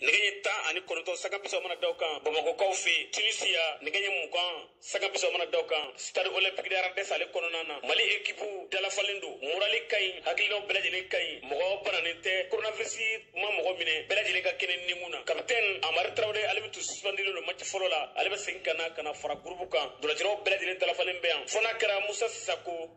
nɛgɛ ɲɛ tan ani kɔnɔntɔn sanga bisaba mana da o kan bamakɔkaw fɛ yen tunisiya nɛgɛ ɲɛ mugan sanga bisaba mana da o kan stade olympique de radès ale kɔnɔna na mali ekipu dalafalen don morali ka ɲi hakilinaw bɛɛ lajɛlen ka ɲi mɔgɔ bananen tɛ koronavirisi ma mɔgɔ minɛ bɛɛ lajɛlen ka kɛnɛ nimu na kapitɛni amari tarawele ale min tun suspendilen don mati fɔlɔ la ale bɛ segin ka na ka na fara gurupu kan ntolacilaw bɛɛ lajɛlen dalafalen bɛ yan fɔ n'a kɛra musa sisako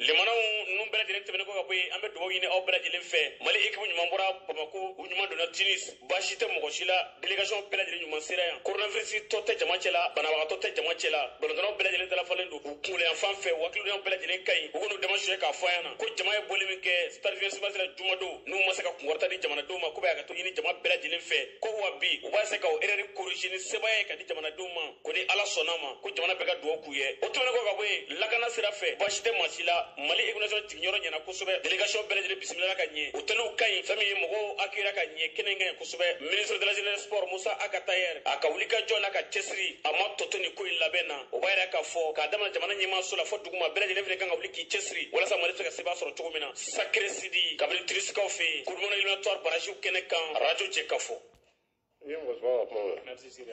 lemanaw ninnu bɛɛ lajɛlen tɛmɛnen kɔ ka bɔ yen an bɛ dugawu ɲini aw bɛɛ lajɛlen fɛ mali ekipu ɲuman bɔra bamako u ɲuman donna tunis baasi tɛ mɔgɔ si la delegation bɛɛ lajɛlen ɲuman sera yan koronavirisitɔ tɛ jama cɛ la banabagatɔ tɛ jama cɛ la balontannaw bɛɛ lajɛlen dalafalen don u kunkolo yanfan fɛ u hakilinaw bɛɛ lajɛlen ka ɲi u kɔn'u dama suyɛ k'a fɔ an ɲɛna ko jama ye bɔli min kɛ stade vingt-six mars la jumadon n'u ma se ka kunkɔrɔta di jamanadenw ma k'u bɛ hakɛto ɲini jama bɛɛ lajɛlen fɛ ko wa bi u b'a se ka o erɛri korize ni sebaaya ye ka di jamanadenw ma ko ni ala sɔnn'a ma ko jamana bɛɛ ka dugawu k'u ye o tɛmɛnen kɔ ka bɔ yen lakana sira fɛ baasi tɛ maa si la mali ekipu nationale jiginyɔrɔ ɲɛna kosɛbɛ delegation bɛɛ lajɛlen bisimilala ka ɲɛ otɛliw ka ɲi fɛn min ye mɔgɔw accueillir ka ɲɛ kɛnɛ ka ɲi kosɛbɛ ministre de la jeunesse sport mosa ag attaher a ka wulikajɔ n'a ka cɛsiri a ma tɔ to nin ko in labɛn na o b'a yira k'a fɔ k'a damina jamana ɲɛmaaso la fɔ duguma bɛɛ lajɛlen fana kan ka wuli k'i cɛsiri walasa mali bɛ se ka sebaaya sɔrɔ cogo min na sakere sidi kabini tunisikaw fɛ yen coupe du monde eliminatoire baraziw kɛnɛ kan radio jɛkafɔ Merci, Sidi.